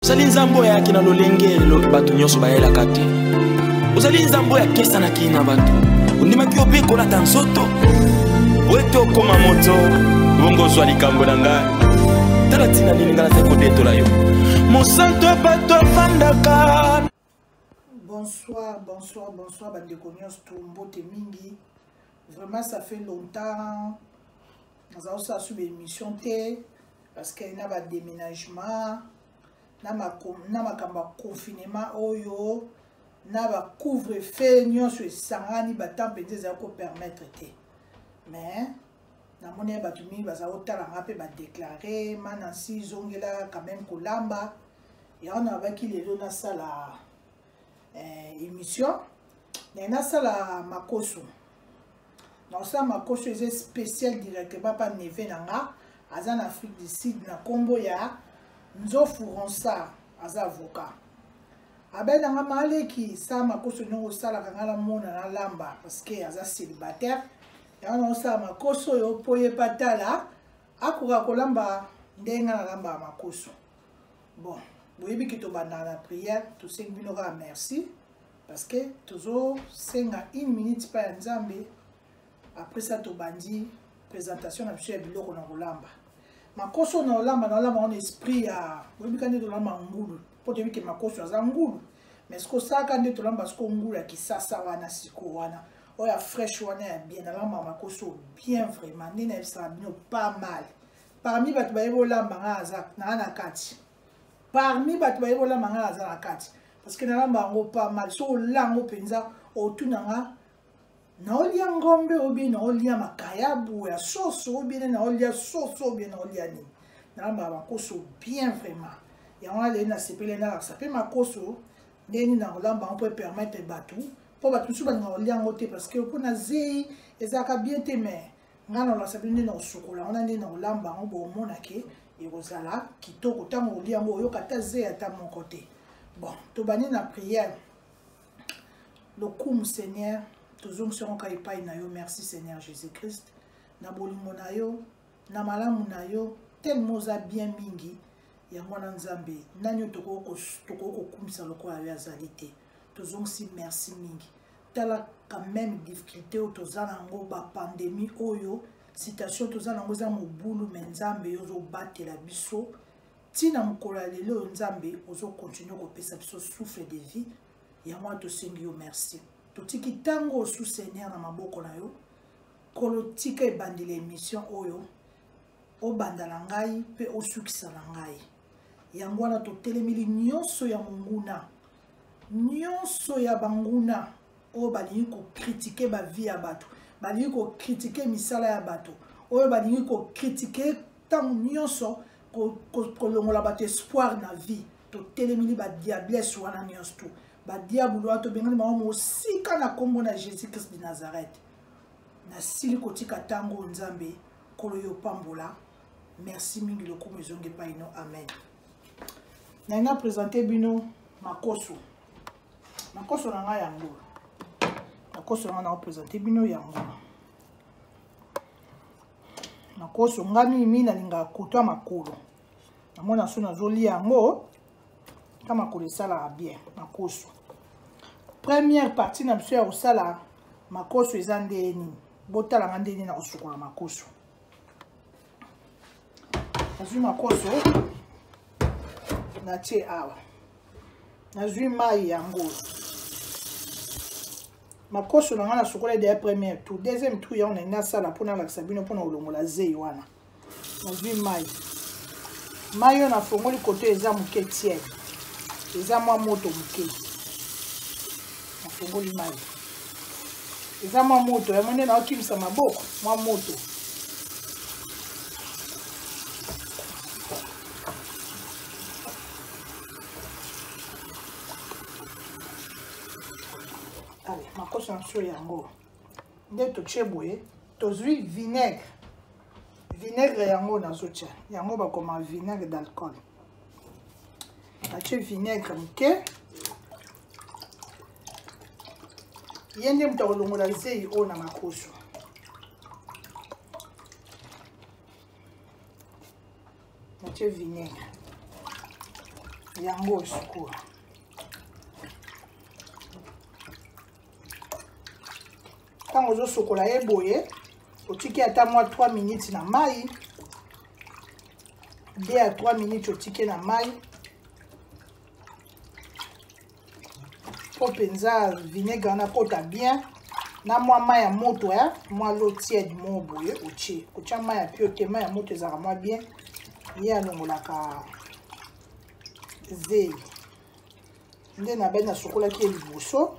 ozali nzambe oyo ayaki na lolenge elobi bato nyonso bayelaka te ozali nzambe oyo akesanaki na bato ondimaki yo mpe kolata nzoto oyo ete okoma moto bongo ozwa likambo na ngai tala ntina nini ngai nazali kodetola yo mosantu ya bato afandaka Bonsoir, bonsoir, bonsoir, bandeko nyonso to mbote mingi. Vraiment, ça fait longtemps. Naza osa sous l'émission te parce qu'il y a un déménagement, na ma na makamba confinement oyo, na ba couvre-feu nyonso esangani ba temps penza za ko permettre te. Mais na moni ba tumi ba za otala ngape ba déclarer manasi zongela quand même kolamba. lamba. ya wana abaki lelo nasala eh, émission naye nasala makoso nakosala makoso eza spécial directement mpa neve na nga aza na afrique du sud na nkombo ya nzofu ronsard aza avocat abenda nga maleki sala makoso ndenge osalaka nga namona nalamba parceke aza célibataire yango naosala makoso oyo mpo ye patala akoka kolamba ndenge nga nalambaka makoso bon boyebi ke tobandaka na prière tosengi bino kaka merci parce que tozosenga une minute mpa ya nzambe après ça tobandi présentation na biso ya biloko na kolamba makoso na olamba na olamba wana esprit ya boyebika nde tolamba ngulu mpo toyebi ke makoso aza ngulu mais siko osalaka nde tolamba siko ngulu ya kisasa wana siko wana oyo ya fraîche wana ya bien nalamba makoso bien vraiment nde nayebisaka bino pas mal parmi bato baye bolamba ngai aza naa na kati parmi bato baye bolamba ngai aza na kati parceke nalamba yango pa mal so ola yango mpenza otuna nga naolia ngombe obie naolia makayabu ya soso obie ne naolia soso obie naolia nini nalambaka makoso bien vraiment yango nalei nasepeli nalakisa mpe makoso ndenge nini nakolamba yango mpo epermettre bato mpo bato mosusu balingaka kolia yango te parceke mpo na zei ezalaka bien te mais ngai nalakisa bino nde na kosukola yango na nde na kolamba yango bomona ke ekozala kitoko ntango olia yango oyoka ata zeya ata moko te bon tobandi na priere lokumu seigneur tozongisi yango ka epai na yo merci seigneur jésus christ na bolingo na yo na malamu na yo telema oza bien mingi yango wana nzambe nani oyo tokoki kokumisa lokola yo azali te tozongisi merci mingi tala quand même difficulté oyo toza nango bapandemie oyo citation toza nango eza mobulu me nzambe yo ozobatela biso ntina mokolo ya lelo oyo nzambe ozokontinue kopesa biso souffle de vie yango wana tosengi yo merci totiki ntango osu seigneur na maboko na yo kolo tika ebandela emission oyo obanda na ngai mpe osukisa na ngai yango wana totelemeli nyonso ya monguna nyonso ya banguna oyo balingi kokritike bavie ya bato balingi kokritike misala ya bato oyo balingi kokritike ntango nyonso kolongola bato espoir na vie totelemeli badiablesse wana nyonso tu badiabulu wana tobengani bango mosika na nkombo na jésus christ de nazareth nasili kotika ntango oyo nzambe nkolo yo pambola merci mingi lokumu ezongi epai no amen naye na présente bino makoso makoso na ngai yango makoso na ngai naopresente bino yango makoso ngai mimi nalingaka kotwa makolo namona so nazolia yango ka makolo esalaka bien makoso première partie na biso ya kosala makoso eza ndenge nini botalanga ndenge nini na kosukola makoso nazwi makoso natie awa nazwi mai yango makoso na ngai nasukola ede ya première tour deuxième tour yango nalingi nasala mpo nalakisa bino mpo na kolongola zei wana nazwi mai mai oyo nafongoli koto eza moke tiele eza mwa moto moke natongoli mai eza mwa moto yango nde naokimisa maboko mwa moto ale makoso na sio yango nde totie boye tozwi vinaigre vinaigre yango nazotya yango bakoma vinaigre d'alcool natie vinaigre moke ye nde moto akolongola zei oyo na makoso natie vinaigre yango sikoyo ntango ozosokola ye boye otiki ata mwa 3 minutes na mai 2 à 3 minutes otike na mai mpo mpenza vinaigre wana kota bien na mwa mai ya moto ya mwa lo tiede moko boye otie otya mai ya pio te mai ya moto ezalaka mwa bien ye alongolaka zeyi nde na bai nasukolaki ye liboso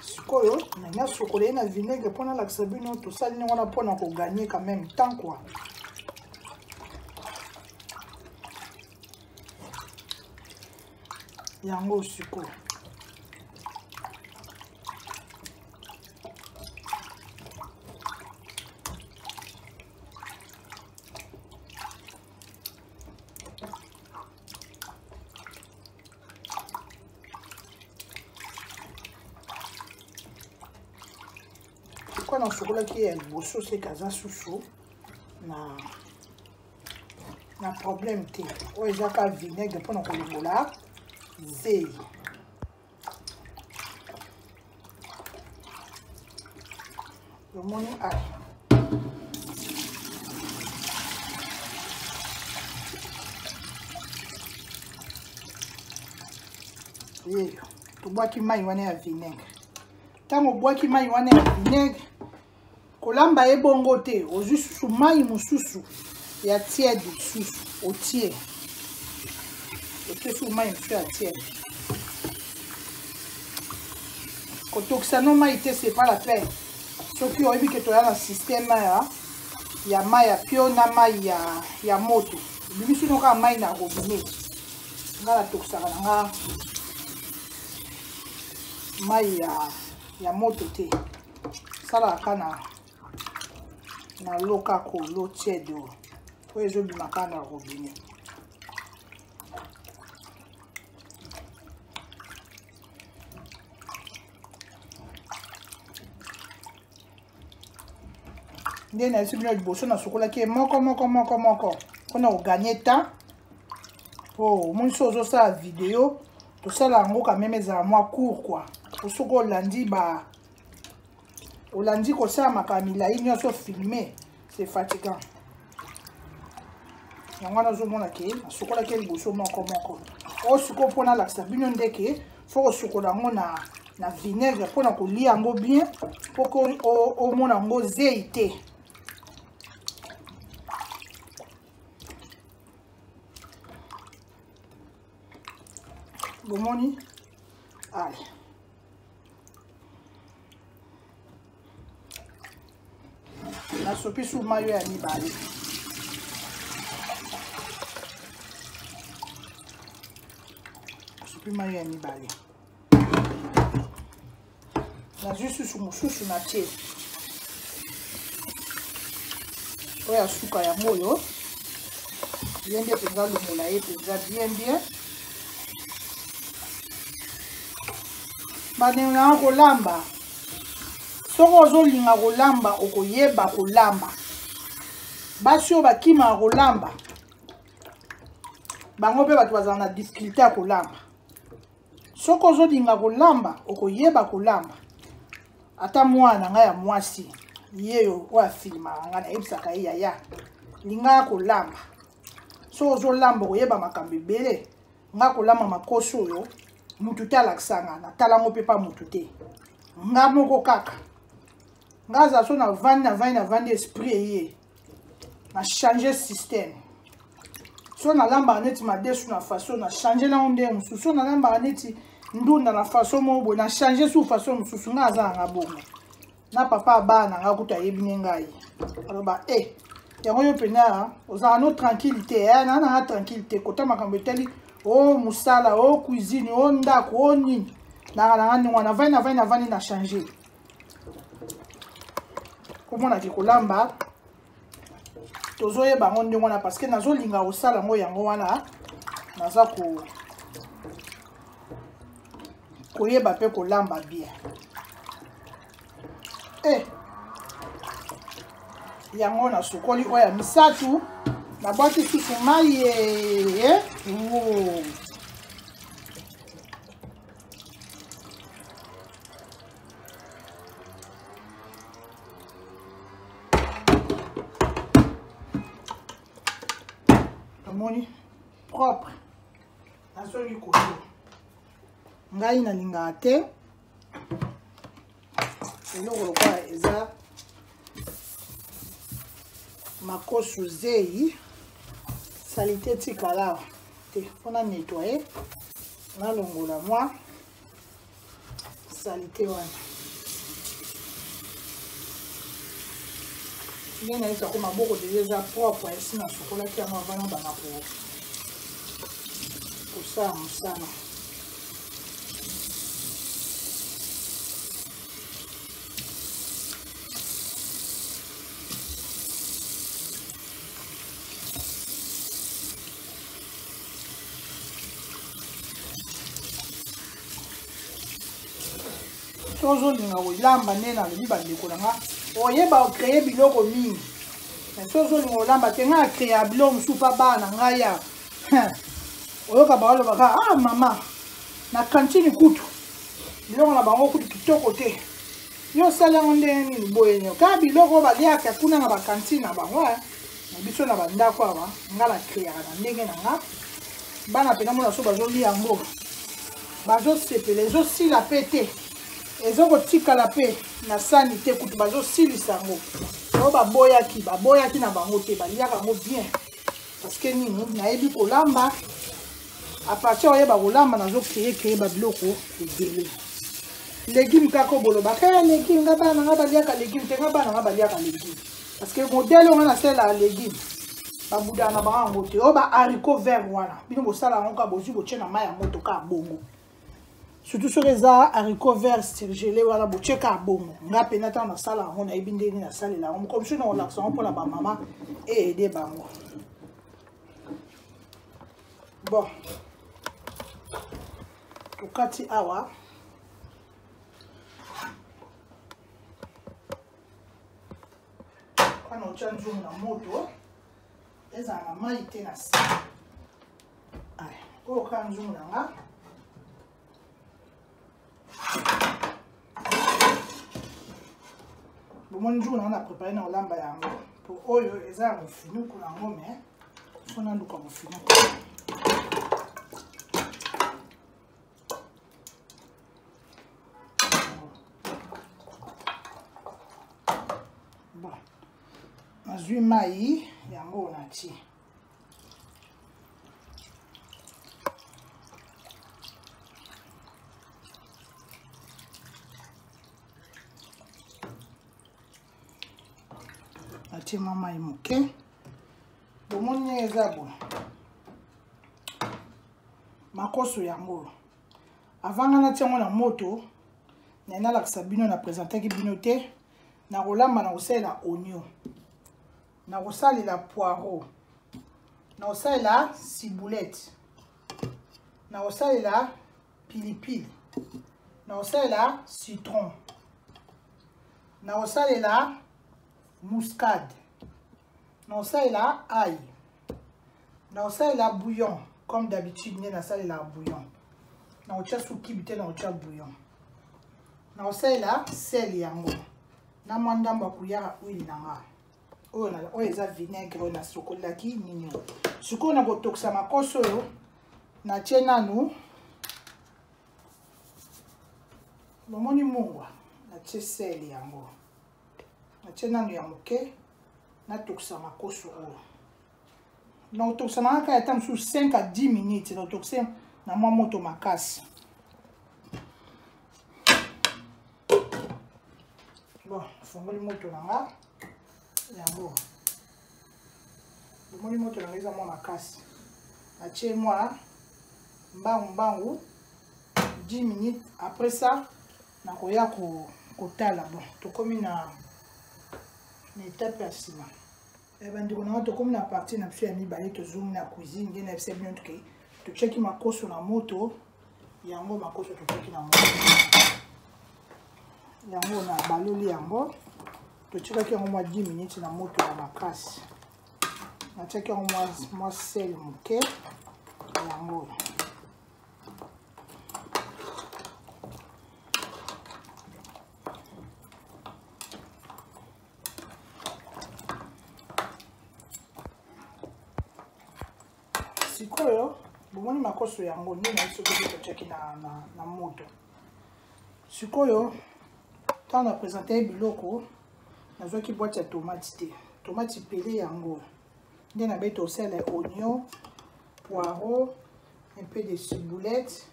sikoyo nani asukola ye na vinaigre mpo nalakisa bino tosali ndenge wana mpo na koganye quand même temps kua yango sikoyo mpo nasokolaki ye ya liboso seke aza susu na na problème te oyo eza ka vinaigre mpo na kolongola zeyi omoni a yeyo tobwaki mai wana ya vinaigre ntango obwaki mai wana ya vinaigre kolamba ye bongo te ozwi susu mai mosusu ya tiede susu otie otie susu mai mosusu ya tiede kotokisa no mai te c'est pas la peine soki oyebi ke toya na système ya ya mai ya pio na mai ya, ya moto ebimisi no kaka mai na robinet nga natokisaka na nga mai ya, ya moto te salaka na na loka ko lo tiède oyo oyo ezobima kaka na robinet nde nayebisi bino liboso nasukolaki ye moko moko moko moko mpona koganye temps po omonisi ozosala video kosala yango kameme ezala mwa cour kua po soki olandi ba olandi kosala makaa milai nyonso filme c'est fatigant yango wana ozomona ke nasukolaki ye liboso moko moko oyo sikoyo mpo nalakisa bino ndeke fo kosukola yango na na vinaigre mpo na kolia yango bien mpo ko omona yango zei te bomoni ale nasopi su mayo ya mibale nasopi mayo ya mibale nazwi susu mosusu na tie oyo ya suka yango oyo ye nde mpenza longola ye mpenza bien bien bandeko nanga kolamba soki ozolinga kolamba okoyeba kolamba basi oyo bakimaka kolamba bango mpe bato bazala na difficulté ya kolamba soki ozolinga kolamba okoyeba kolamba ata mwana na ngai ya mwasi ye oyo afilimaka ngai nayebisaka ye yaya lingaka kolamba soki ozolamba okoyeba makambo ebele nga kolamba makosi oyo mutu te alakisa nga natala yango mpe mpa mutu te nga moko kaka nga aza so navandi navandi navandi esprit eye na change système so nalambaka neti madesu na faso na change nango ndenge mosusu so nalambaka neti ndunda na faso moko boye na change su faso mosusu ngai aza nanga bongo na papa abaa na ngai kutu ayebi ne ngai aloba e eh, yango yo mpenza ozalaka no tranquille te eh, naa nanga tranquille te kota makambo etali o oh, mosala o oh, cuisine o oh, ndako o nini nanga nanga ndenge wana vani na vani na vani na change komona ke kolamba tozoyeba yango ndenge wana parce que nazolinga kosala yango yango wana naza ko koyeba mpe kolamba bien e eh. yango nasukoli oyo ya misato nabwaki susu mai ye eh, eh. omoni propre nazongi koyo ngai nalingaka te eloko lokola eza makosu zeyi salite etikala awa te mpo na nettoye nalongola mwa salite wana nde nayebisa ko maboko deja eza propre esi nasukolaki yango avana bana kosala mosala tozolinga kolamba nde nalobi bandeko na nga oyeba okreye biloko mingi mais sozolinga kolamba te ngai akreya biloko mosusu mpa bana ngai ya oyoka bango alobaka ah mama na kantini kutu biloko na bango kutu kitoko te yo osali yango ndenge nini boye nio kaka biloko oyo baliaka kuna na bakantine na bango eh. na biso na bandako awa nga na kreaka na ndenge na nga bana mpe namona so bazoli yango bazosepela ezosila mpe te ezokotikala mpe na sani te kutu bazosilisa yango oyo baboyaki baboyaki na bango te baliaka yango bien parce que nini nayebi kolamba apartir oyeba kolamba nazo kreye kreye babiloko ebele legume kaka obolobaka ya eh, legume nga bana nga baliaka legume te nga bana nga baliaka legume parce que modele wana nasalela legume babudana bango yango te oyo baharicot vert wana bino bosala yango kaka bozwi botye na mai ya moto kaka bongo surtout soki eza haricot vert sirgele wana botyeka ya bongo nga mpena ntango nasala yango nayebi ndenge nasalela yango mokomi soki nakolakisa yango mpona bamama eede bango bon tokati awa wana otya nzungu na moto ezala na mai te na sika oyo kaka nzungu na nga bomoni nzungu na nga na prépare na kolamba yango po oyo eza ya mofinuku na yango me fo naluka mofinuku nazwi mai yango natie natie mwa mai moke bomoni ndenge eza boye makoso yango oyo avanga natia yango na moto naye nalakisa bino na presentaki bino te nakolamba na kosalela onio nakosalela poireau nakosalela ciboulette nakosalela pilipili nakosalela citron nakosalela muscade nakosalela ail nakosalela bouillon comme d'habitude nde nasalelaka bouillon nakotya sukibi te nakotya bouillon nakosalela sel yango na mwa ndambo ya kuyaka huile na nga oyo na oyo eza vinaigre oyo nasokolaki nini sikoyo na kotokisa makoso oyo natie nanu bomoni mungwa natie sel yango natie nanu ya moke natokisa makoso oyo nakotokisa na kaka ata mosusu 5 a 10 minutes nakotokisa na mwa moto makasi bon fongoli moto na nga yango bomoni moto na nga eza mwa makasi natie mwa mbangu mbangu 10 minutes après ça nakoya kotala bon tokomi na na etape ya nsima Eh, bandeko na ngai tokomi na parti na biso ya mibale tozongi na cuisine nde na bisa bino toke totyaki makoso na moto yango makoso totyaki na moto yango na baloli yango totikaki yango mwa 10 minutes na moto ya makasi natyaki yango mwa sel moke yango sikoyo bomoni makoso yango nde nayi soki ozo totyaki na, na, na moto sikoyo ntango na présente ye biloko nazwaki bwati ya tomate te tomate pele yango nde nabeti osele oignon poireau un peu de ciboulette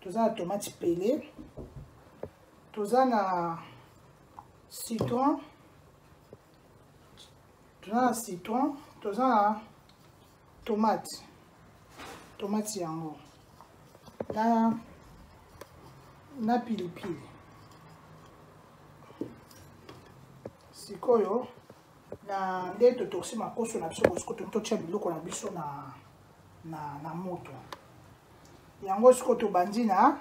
toza na tomate pele toza na citron toza na citron toza na tomate tomate yango na na pilipili sikoyo na nde totokisi makoso na biso bosiko toki totya biloko na biso na, na, na moto yango sikoyo tobandi na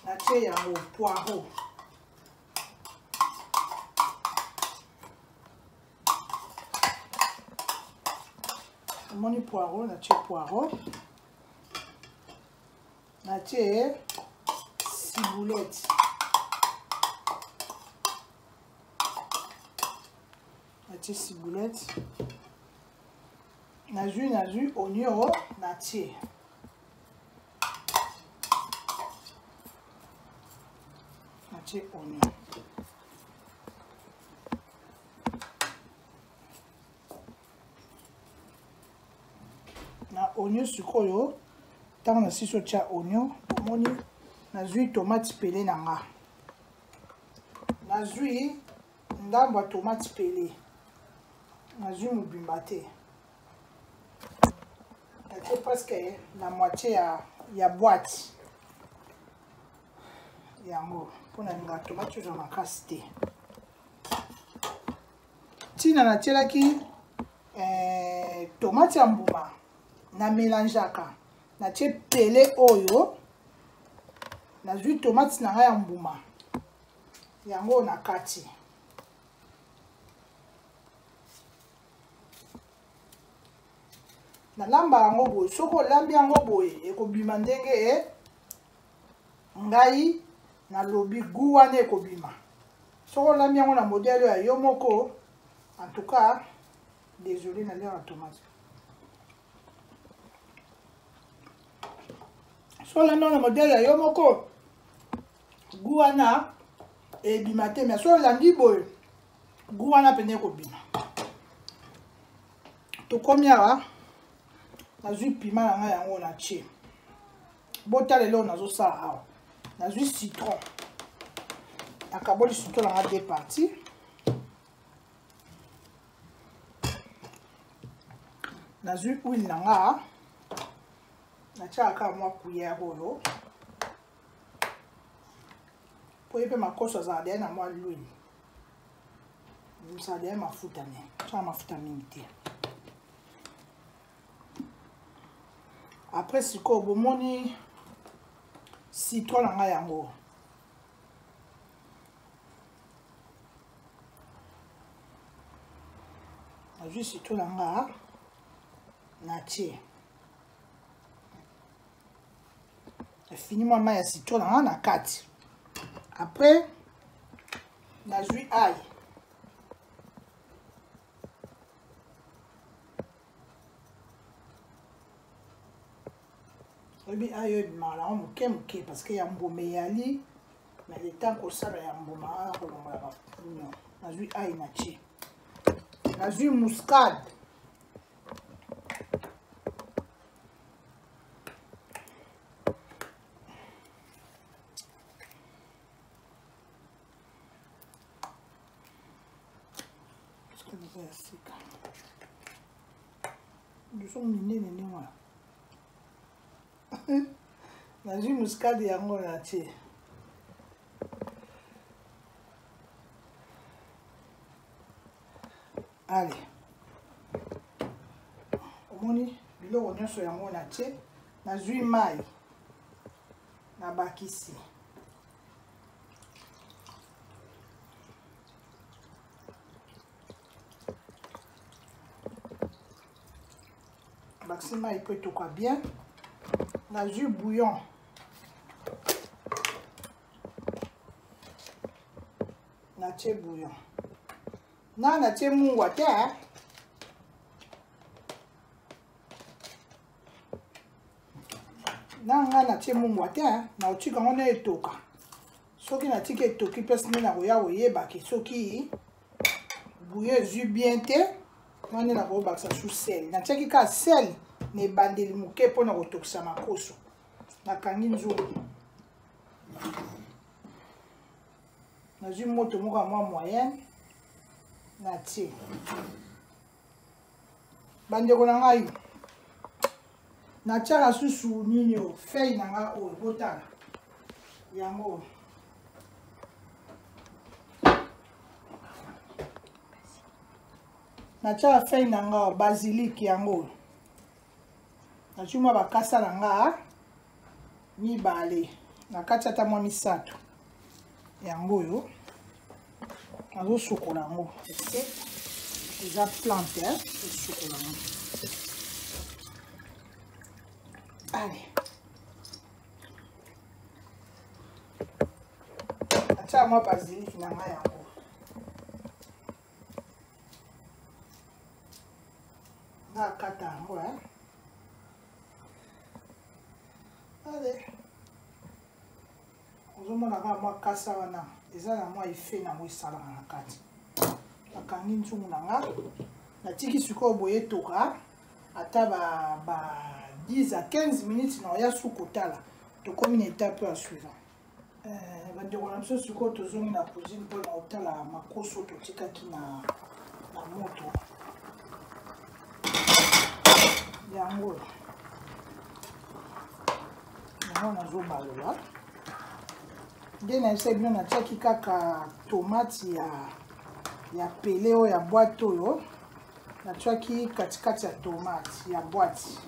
natie yango poireau omoni poireau natie poireau natie ciboulette natie ciboulette nazwi nazwi onio natie natie oignon na oignon sikoyo ntango nasisi otya oignon omoni nazwi tomate pele na nga nazwi ndambo ya tomate pele nazwi mobimba te natie presque na moitie ya, ya boite yango mpo nalinga tomati ozwa makasi te ntina natielaki eh, tomati ya mbuma na melangeaka natie pele oyo nazwi tomati na ngai ya mbuma yango na kati nalamba yango boye soki olambi yango boye ekobima ndenge e ngai nalobi gu wana ekobima soki olambi yango na modele ya yo moko en tout cas désolé na lere ya tomate soki olambi yango na modele ya yo moko gu wana ebima te mais soki olandi boye goût wana mpenza ekobima tokomi awa nazwi pima na ngai yango na tie botala eloko nazosala awa nazwi citron nakaboli citron na ngai de partie nazwi huile na nga natyaka kaka mwa kuyere oyo po ye mpe makoso azala deya na mwa lwini mosala deya mafuta me sala mafuta mingi te après sikoyo bomoni citron na ngai yango nazwi citron na ngai natie afini mwa mai ya citron na nga na kati après nazwi aye oyebi ayo ebimaka nango moke moke parce que ya mbuma eyali na leta kosala ya mbuma wana kolongola bapuno nazwi ai na tie nazwi muscade biso minene nde wana nazwi muskade yango na tie ale omoni biloko nyonso yango na tie nazwi mai na bakisi bakisi mai mpo etoka bien nazwi bouillon natie bouillon Nga na tie mungwa te. Na nga na tie mungwa te, na otika ngo na etoka. Soki na tiki etoki pesi nde na koya koyeba ke soki bouillon ezwi bien te, wana na kobakisa su sel. Na tiaki ka sel na ebandeli moke mpo na kotokisa makoso. Nakangi nzungu. nazwi moto moko ya mwa moyenne natie bandeko na ngai natyaka susu nini oyo fei na ngai oyo botala yango oyo natyaka fei na ngai oyo basilike yango oyo nazwi mwa bakasa na nga mibale na kati ata mwa misato yango oyo nazosukola yango eke eza plante esukola yango ale atya mwa basiliki na ngai yango nakata yango eh. ale ozomona kaka mwa kasa wana eza na mwa efe nango esalaka na kati nakangi nzungu na nga natiki sikoyo boye etoka ata ba, ba 10 à 15 minutes na oya su kotala tokomi na etape ya suivant bandeko na biso sikoyo tozongi na cuisine mpo na kotala makoso totikaki na, na moto yango yango nazobalola nde nayebisa bino natiaki kaka tomate ya ya pele oyo ya bwate oyo natiaki katikati ya tomate ya bwate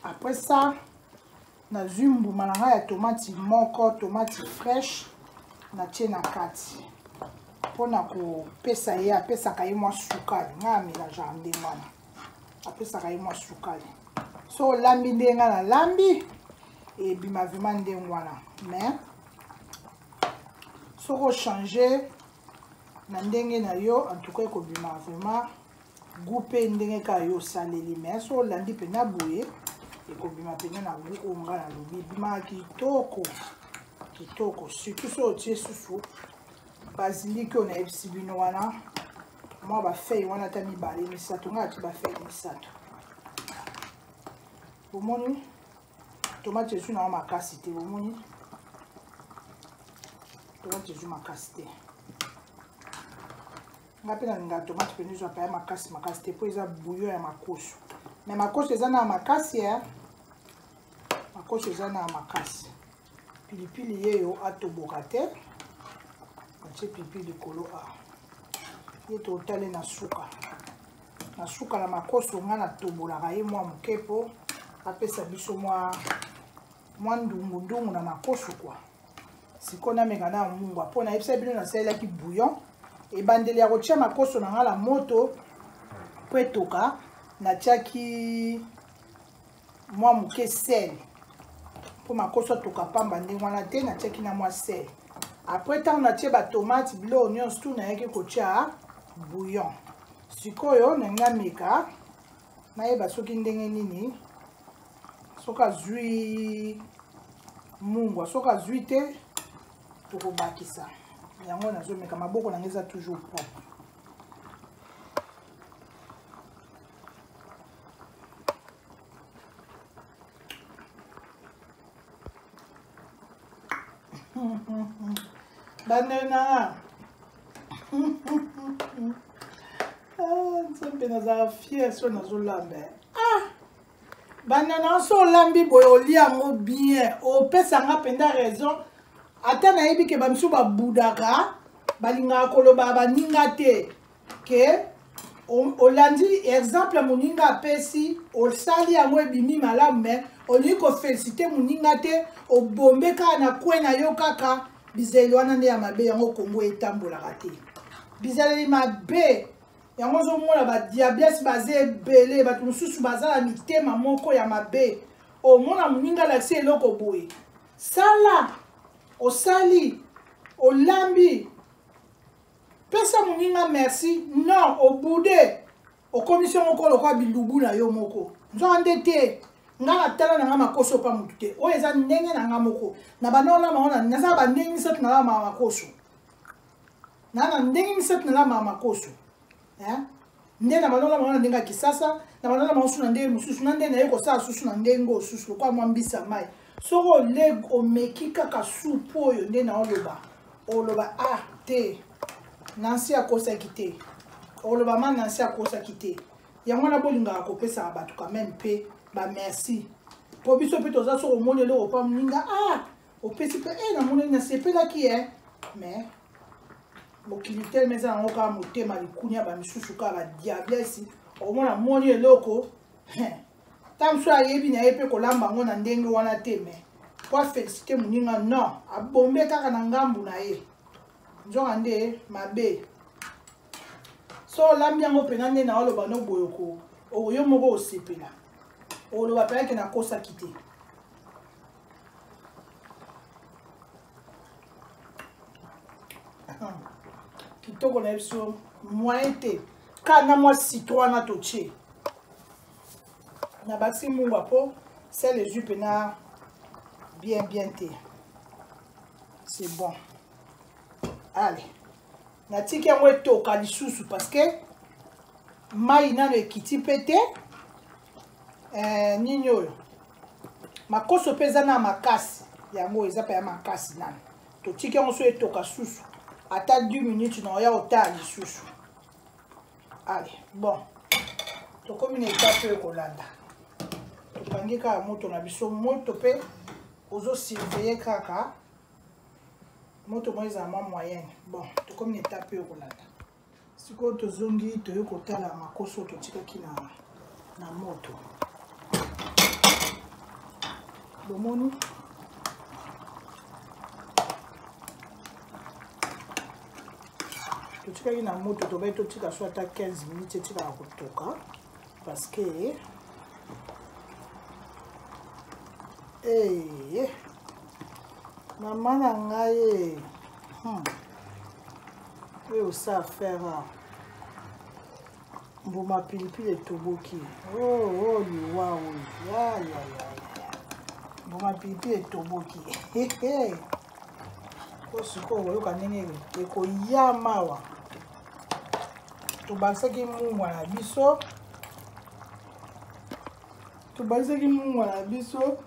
après ça nazwi mbuma na ngai ya tomati moko tomati fraîche natie na kati mpo na kopesa ye apesaka ye mwa sukali ngai amelajaka ndenge wana apesaka ye mwa sukali so olambi ndenge ngai nalambi ebima vrima ndenge wana mais soki ochange na ndenge na yo en tout cas ekobima vraiment goût mpe ndenge kaka yo osaleli mai so olandi mpenza boye ekobima mpenza na goût oyo ngai nalobi ebimaka kitoko kitoko surtout so otie susu baziliki oyo nayebisi bino wana mwa bafeille wana ata mibale misato ngai ati bafeille misato bomoni tomate ezwi nao makasi te bomoni tomate ezwi makasi te nga mpe nalinga tomate mpena ezwaka ya makasi makasi te mpo eza bouillon ya makoso me makoso eza na makasi ya makoso eza na makasi pilipili yeyo atoboka te atie pilipili likolo a ye totale na suka na suka na makoso nga natobolaka ye mwa moke mpo apesa biso mwa mwa ndungu ndungu na makoso kwa sikoyo nameka na mungwa mpo nayebisa bino nasalelaki bouillon ebandeli ya kotya makoso na ngai na moto mpo etoka natyaki mwa moke sel mpo makoso atoka mpamba ndenge wana te natyaki na mwa sel apres ntango natye batomate biloko nyonso tu nayaki kotya bouillon sikoyo nalingi nameka nayeba soki ndenge nini soki azwi mungwa soki azwi te tokobakisa yango nazomeka maboko na ngai eza toujours propre bandele nanga ah, nzambe nazala fier so nazolamba ah! banda na nso olambi boye olia yango bien opesa nga mpenza raison ata nayebi ke bamisu babudaka balingaka koloba baninga te ke olandi exemple moninga apesi osali yango ebimi malamu me olingi kofelisite moninga te obombe kaka na kwe na yo kaka bizaleli wana nde ya mabe yango kongo etambolaka te bizaleli mabe yango ozomona badiables baza ebele bato mosusu baza na mitema moko ya mabe omona moninga alakisi eloko boye sala osali olambi pesa moninga merci non obude okomisi yango moko lokola bilubu na yo moko nzoka nde te ngai natala na ngai makoso mpa motu te oyo eza ndenge na ngai moko na bana wana bango naza bandenge misato na ngai makoso na na ndenge misato na lamba makoso hein nde na banola bango na ndenge ya kisasa na banola bango susu na ndenge mosusu na nde naye kosala susu na ndenge oyo susu lokola mwa mbisa mai soki oleg omeki kaka supu oyo nde na oloba oloba a ah, te nansi akosaki te oloba ma nansi akosaki te yango wana bolingaka kopesaka bato quand meme mpe bamerci mpo biso mpe toza soki omoni eloko mpa moninga a ah, opesi mpe e namoneli nasepelaki e mais mokili telema eza yango kaka motema likunia bamisusu kaka badiablesi omona moni eloko ta mosusu ayebi na ye mpe kolamba yango na ndenge wana te mais po afélicité moninga non abombe kaka na ngambu na ye nzoka nde mabe so olambi yango mpena nde na oloba no boye okoyo moko osepela oloba mpenake nakosaki te kitoko na ye biso moyen te kaka na mwa citron wana totie na bakisi mungwa mpo sel ezwi mpena bien bien te c'est bon allez natiki yango etoka lisusu parceke mai nano ekiti mpe te eh, nini oyo makoso mpe eza na makasi yango eza mpe ya makasi nano totiki yango so etoka susu ata 10 minutes na oya otala lisusu ale bon tokomi na etape oyo kolanda tokangi kaka moto na biso moto mpe ozosurveye kaka moto moko ezala mwa moyenne bon tokomi na etape oyo kolanda sikoyo tozongi toye kotala makoso totikaki na, na moto bomoni totikaki na moto tobaki totika so ata 15 minutes etikaka kotoka parce que hey, eh, mama na ngai eh. hmm. oyo osa affaire mbuma pilipili etoboki oyo oh, oh, liwa oyo yayaya mbuma pilipili etoboki po sikoyo okoyoka ndenge ekoya mawa tobakisaki mungwa na biso tobakisaki mungwa na biso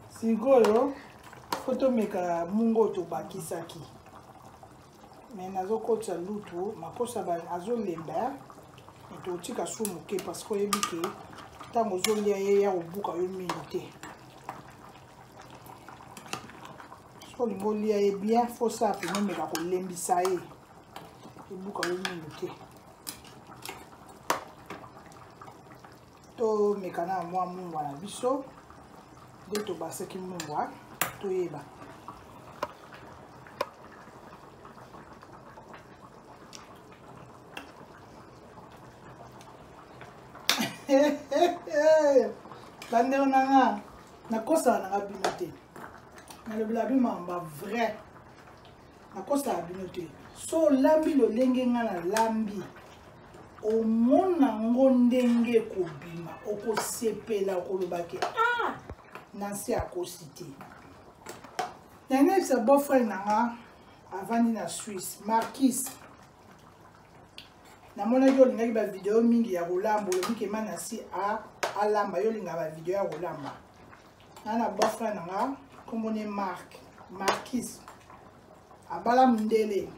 sikoyo po tomeka mungu oyo tobakisaki me nazokotisa lutu makosa azolemba moto otika su moke parce que oyebi ke ntango ozolia ye ya kobuka yo mingi te soki olingi olia ye bien fosa apena omeka kolembisa ye ebuka yo mingi te tomeka na mwa mungwa na biso nde tobasaki mungwa toyeba bandeko na nga nakosaka nanga bino te nalobela bino mamba vrai nakosaka bino te so olambi lolenge nga nalambi omona ngo ndenge ekobima okosepela okoloba ke ah nansi akosi te nayebisa boyfriend na nga avandi na suisse markis namonaki olingaki bavideo mingi ya kolamba olobi kema na si alamba yo olingaka bavideo ya kolamba na na boyfriend na nga nkombo ne mark markis abala mondele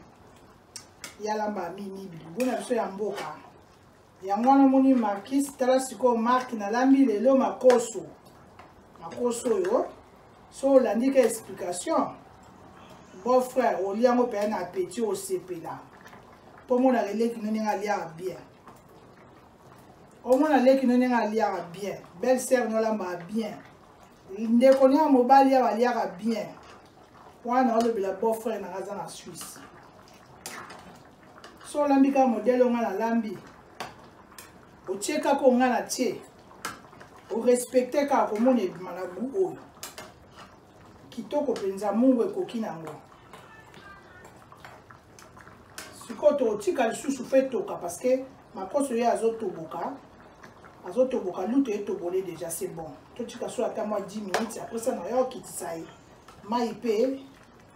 ye alamba mimi bilibona biso ya mboka yango wana omoni markis tala sikoyo marke nalambi lelo makoso makoso oyo so olandi ka explication bon frère olia yango mpenza na apeti osepela mpo omonaka eleki no ndenge aliaka bien omona leki no ndenge aliaka bien belle sœur no alambaka bien ndeko no ya mobali awa aliaka bien wana olobela beau frère nanga aza na suisse so olambi kaka modele onga nalambi otie kaka onga na tie orespecte kaka komona ebima na gu oyo kitoko mpenza mungu ekoki na yango sikoyo tokotika lisusu fe toka parce que makoso ye azotoboka azotoboka lutu etobole déjà c'est bon totika so ata mwa 10 minutes apres ça na yo okitisa ye mai mpe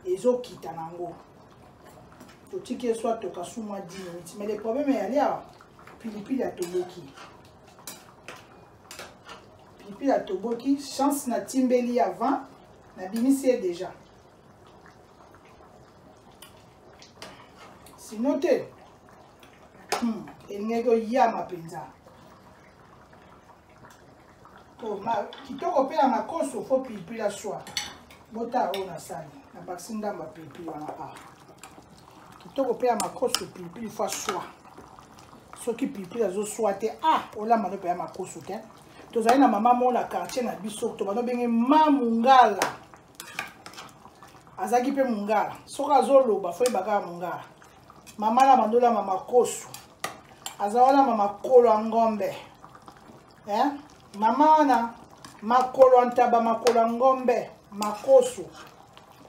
ezokita na yango totiki ye so atoka su mwa 10 minutes mais le problème eyali awa pilipili atoboki pilipili atoboki chance natimbeli avant nabimisi ye déjà sino te hmm, elingaki oyama mpenza to ma kitoko mpe ya makoso fo pilipili ya swa bota oyo nasali na bakisi ndambo ya pilipili wana a kitoko mpe ya makoso pilipili fo aswa soki pilipili azoswa te a olamba no mpe ya makoso te tozali na mama moko na quartier na biso to bano benge ma mungala azalaki mpe mungala soki azoloba fo yebaka ya mungala mama na bandola mama kosu aza wana mama kolo ya ngombe eh? mama wana makolo ya ntaba makolo ya ngombe makosu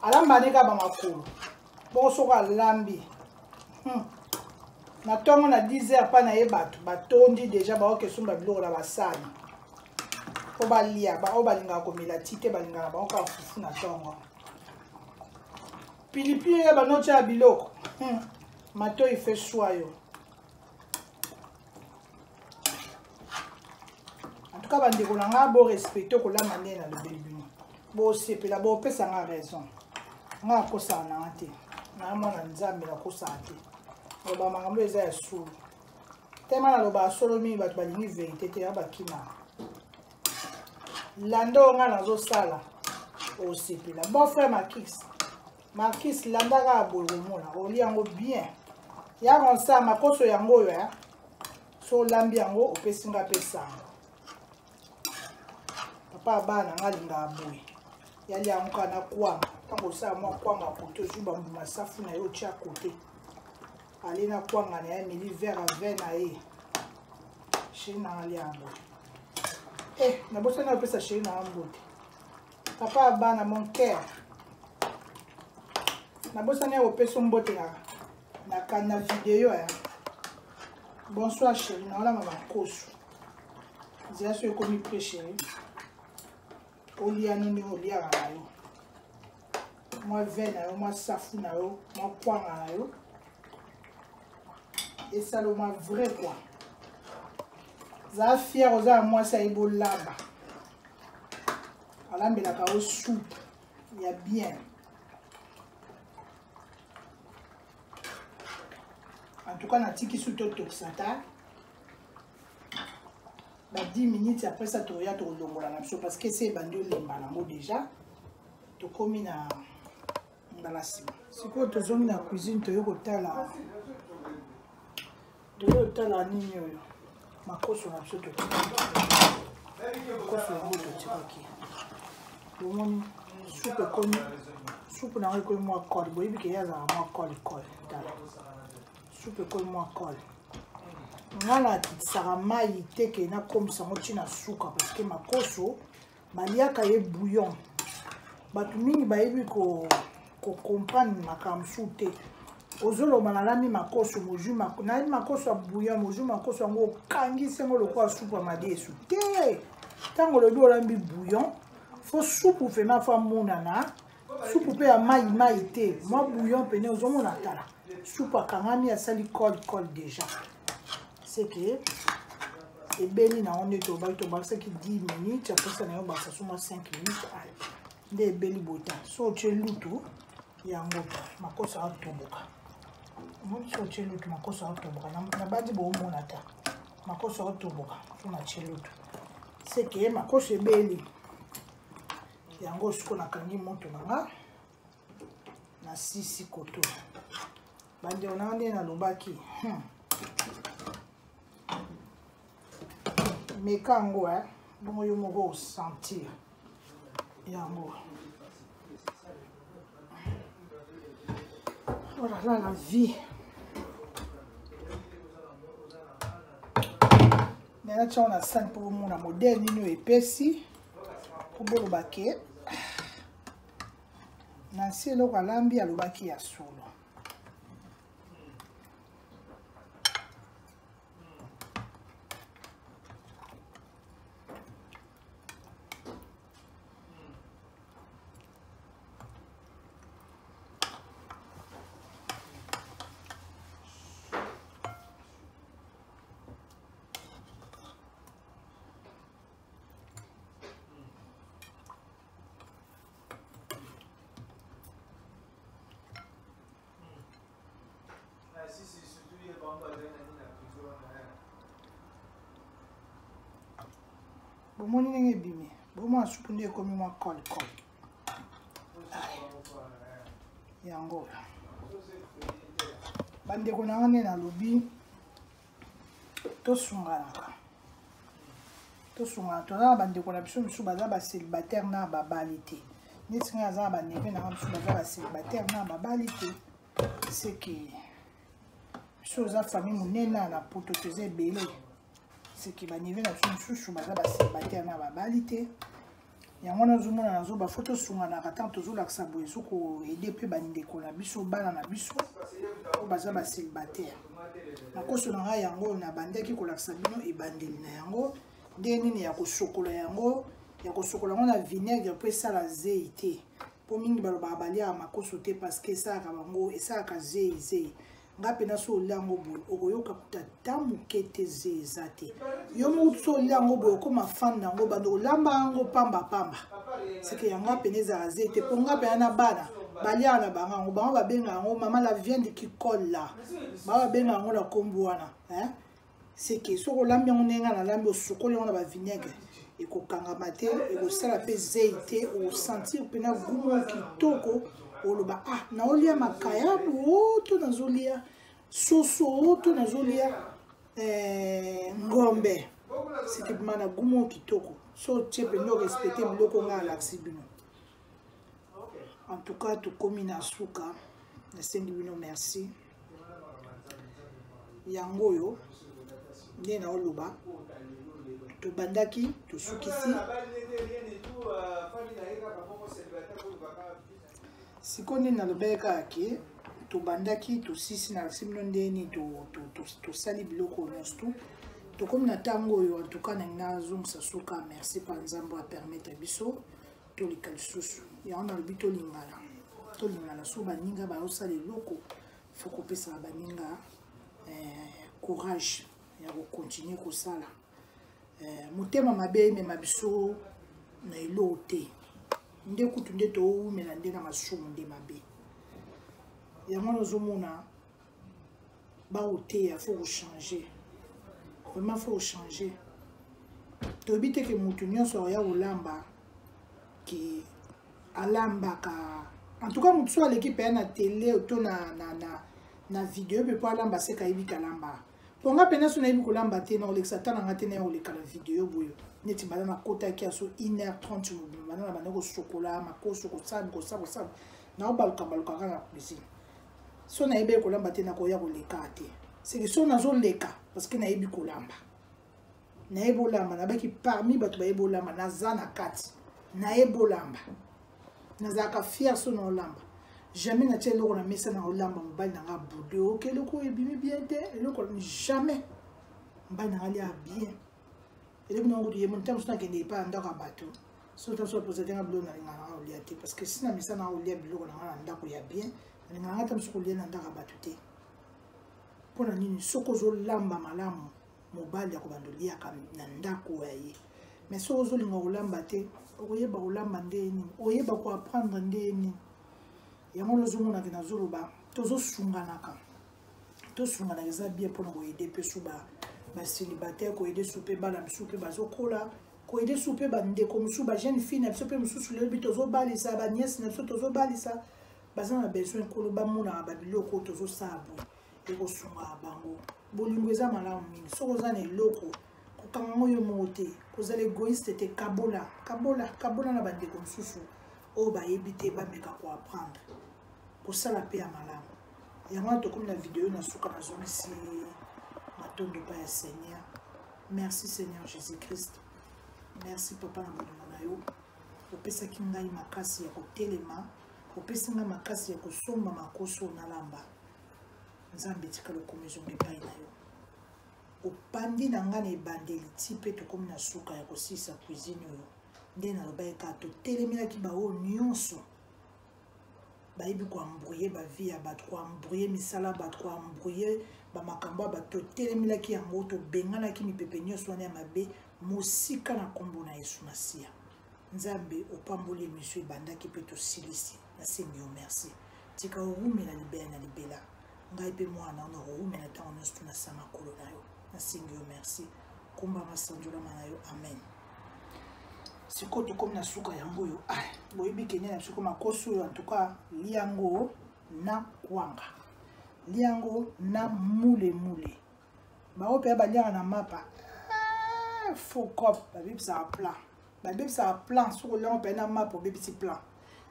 alambani kaka bamakolo bongo soko alambi hmm. na ntongo na 10 heure mpa na ye bato batondi deja baoke esomba biloko na basani mpo balia baoyo balingaka komela ti te balingaka bango kaka fufu na ntongo pilipili ya banoti ya biloko hmm. matoi fe swa yo antuka bandeko na ngai borespecte okolama nde na lobeli bino bosepela bopesa ngai raison ngai akosaka na nga te naya mwana nzambe nakosaka te loba makambo eza ya solo tema nalobaka solo mingi bato balingi verité te ya bakimaka landa oyo ngai nazosala osepela bon frère makis makis landa kaka boye komona oli yango bien ya konsa makoso yango oyo ya so olambi yango opesi ngai pesanga papa abana ngai alingaka boye yali yango kaka na kwanga ntango osala mwa kwanga kote ozwi bambuma safu na yo otya kote ale na kwanga na ye ameli vert a vin na ye sheri na nga liambo e eh, nabosani napesa sheri na nga mbote papa ya bana mon cœur nabosani ya kopesa mbote na na, na video ya bonsoir sheri na olama makosu nzela so ekomi pre sheri olia nini oliaka na yo mwa vin na yo mwa safu na yo mwa kwanga na yo esaloma vrai kua zala fiere oza na mwasi ayebi olamba alambelaka yo soupe ya bien en tout cas natiki su totokisa ta ba 10 minutes après ça toya tokolongola na biso parce que se ebandi olemba nango déjà tokomi na mbala nsima sikoyo tozongi na cuisine toye kotala toye kotala nini oyo makoso na biso tokoso yango totikaki omoni supu ekomi supu na yango ekomi mwa kole boyebi ke ye azalaka mwa kole kole tala supu ekoli mwa kole nga nakitisaka mai te ke nakomisa yango ntina suka parceke makoso baliaka ye bouillon bato mingi bayebi kocomprendre ko makambo su te ozoloba nalami makoso mozwi nalami makoso ya bouillon mozwi makoso yango okangisi yango lokola supu ya madesu te ntango olobi olambi bouillon fo supu vraimen fo amonana supu mpe ya mai mai te mwa bouillon pene ozomona tala supu akangami asali col col déjà seke ebeli na yango nde tobaki tobakisaki 10 minutes apesa na yo bakisa suma 5 minutes ale nde ebeli bota so otye lutu yango makosa atoboka omoni so otye lutu makosa atoboka nabandi boomona ta makosa atoboka so natye lutu seke makosa ebeli yango siko nakangi moto na nga na sisi koto bandeko na nga nde nalobaki hmm. meka yango e eh? bongo yo moko osentir yango olala oh la vie me natyango na sani mpo omona modele nini oyo epesi po boloba ke na nsi eloko alambi alobaki ya solo bomoni ndenge ebimi bomona supu nde ekomi mwa cole cole yango bandeko na yango nde nalobi tosunganaka tosungana toza na bandeko na biso mosusu baza bacélibataire na babali te neti ngai aza na baneve na ngai mosusu baza bacélibataire na babali te seke biso oza famille monene na poto toza ebele seke baneve na biso mosusu baza bacélibataire na babali te yango wana ozomona na zoba fo tosunganaka ntango tozolakisa boye so koede mpe bandeko na biso bana na biso oyo baza basilibataire nakoso na ngai yango oyo nabandaki kolakisa bino ebandeli na yango ndenge nini ya kosokola yango ya kosokola yango na vinaigre mpo esala zei te mpo mingi balobaka baliaka makoso te parceke esalaka bango esalaka zei zei nga mpe nasi olia yango boye okoyoka kuta ta moke te ze eza te yo moko tusi olia yango boye okoma fane na yango bando olamba yango pamba pamba seke ya nga mpena ezala ze te mpo nga mpena na bana baliaka na bango yango bango babenga yango mama la viande qui colle la bango babenga yango na nkombo wana seke soki olambi yango ndenge ngai nalambi osukoli yango na bavinaigre ekokangama te ekosala mpe zei te osentir mpena gumu kitoko oloba ah naolia makayabu o oh, to nazolia soso o oh, to nazolia eh, ngombe seke bima na gumu kitoko so otie mpenza orespecte biloko ngai alakisi bino en tout cas tokomi na suka nasengi bino merci yango oyo nde naoloba tobandaki tosukisi sikoyo nde nalobaki kaka ke tobandaki tosisi na lakisi bino nde nini tosali biloko nyonso tu tokomi na ntango oyo antuka na ngai nazongisa suka merci mpa nzambe apermettre biso toleka lisusu yango nalobi tolingana tolingana so baninga bayosala eloko fo kopesaka baninga eh, courage ya kokontinue kosala eh, motema mabe emema biso na eloko te nde kutu nde towumela nde na masumu nde mabe yango nazomona baoteya faut kochange vraiment faut kochange toyebi te ke motu nyonso akoya kolamba ke alambaka en tout cas motu so aleki mpenza na tele to na, na, na, na video mpe mpo alamba seka ayebi kalamba mpo nga mpenza so nayebi kolamba te na kolekisa ta na nga te naya koleka na video boyo neti banda nakotaki ya so 1 heure 30 mobima banda na banda kosokola makoso kosabi kosa kosabi naobalukabaluka kaka na cuisine so nayebi kolamba te nakoya koleka te seke so nazoleka parceke nayebi kolamba nayebi olamba nabaki parmi bato bayebi olamba naza na kati nayebi olamba nazalaka fier so na olamba jamais natya eloko na mesa na olamba mobali nanga boude oke eloko oyo ebimi bien te eloko jamais mobali nanga lia bien elobi nango kutu ye moni ntango mosusu nakende epai ya ndako ya bato soki ntango mosusu bapoza te nga biloko nalingaka nanga kolia te parce que si na mesa nanga kolia biloko nanga na ndako ya bien nalingaka nga ntango mosusu kolia na ndako ya bato te mpo na nini soki ozolamba malamu mobali akobanda oliaka na ndako ya ye mais soki ozolinga kolamba te okoyeba kolamba nde ye nini oyeba koapprendre nde ye nini yango wana ozomonake nazoloba tozosunganaka tosunganaka eza bien mpona koyede mpe su basilibataire koyede su mpe bana misu mpe bazokola koyede su mpe bandeko mosusu bajeune fille na biso mpe mosusu lelo bi tozobalisa baniese na biso tozobalisa baza na besoin nkolo bamonaka babiloko oyo tozosala boye ekosungaka bango bolingo eza malamu mingi soki oza na eloko kokanga yango yo moko te kozala egoiste te kabola kabola kabola na bandeko mosusu oyo bayebi te bameka koapprendre kosala mpe ya malamu yango wana tokomi na video na suka nazongisi matondo mpa ya seigneur merci seigneur jésus christ merci papa na bolingo na yo opesaki ngai makasi ya kotelema opesi ngai makasi ya kosomba makoso nalamba nzambe etika lokomi ezonga epai na yo opandi na ngai na ebandeli ti mpe tokomi na suka ya kosilisa cuisine oyo nde nalobaki kaka totelemelaki baoyo nyonso bayebi koambrouye bavie ya bato koambrouye misala bato koambrouye bamakambo ya bato totelemelaki yango tobenganaki mipepe nyonso wana ya mabe mosika na nkombo na yesu masiya nzambe opamboli emisio ebandaki mpe tosilisi nasengi yo merci tika orumela libela na libela ngai mpe mwana wana orumela ntango nyonso tunasama kolo na yo nasengi yo merci komba masanjolama na yo amen sikoyo tokomi na suka yango oyo ah, boyebi kenya na biso makosi oyo antuka lia yango na kwanga lia yango na mulemule bango mpe baliaka na mapa ah, faux cop babebisaka plan babebisaka plan soki oliango mpe na mapa obebisi plan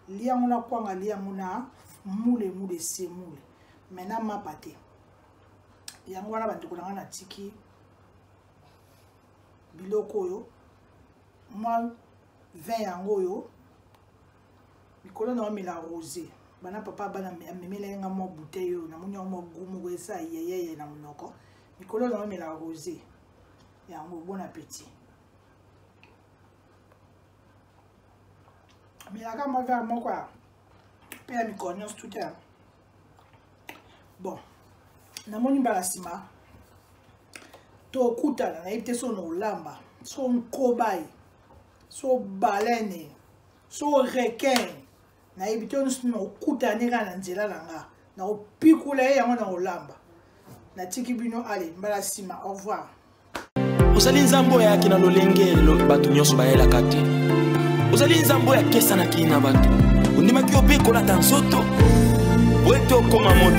lia yango na kwanga lia yango na mulemule semule mai na mapa te yango wana bandeko na ngai natiki biloko oyo mwa vin yango oyo likolo na omela rose bana papa bana amemela ye nga mwa bouteille oyo namoni yango mwa gu moko esa yeyeye na monoko likolo na omela rose yango bon appétit melaka mwa vin moko ya mpe ya mikolo nyonso tuta bon namoni mbala nsima tokutana nayebi te so na olamba so nkobai so balene so requin nayebi te nyonso nakokutane kaka na nzela na nga nakopikula ye yango na olamba natiki bino ale mbala nsima au revoir ozali nzambe oyo ayaki na lolenge bato nyonso bayelaka te ozali nzambe oyo akesanaki na bato ondimaki yo mpe kolata nzoto po ete okoma moto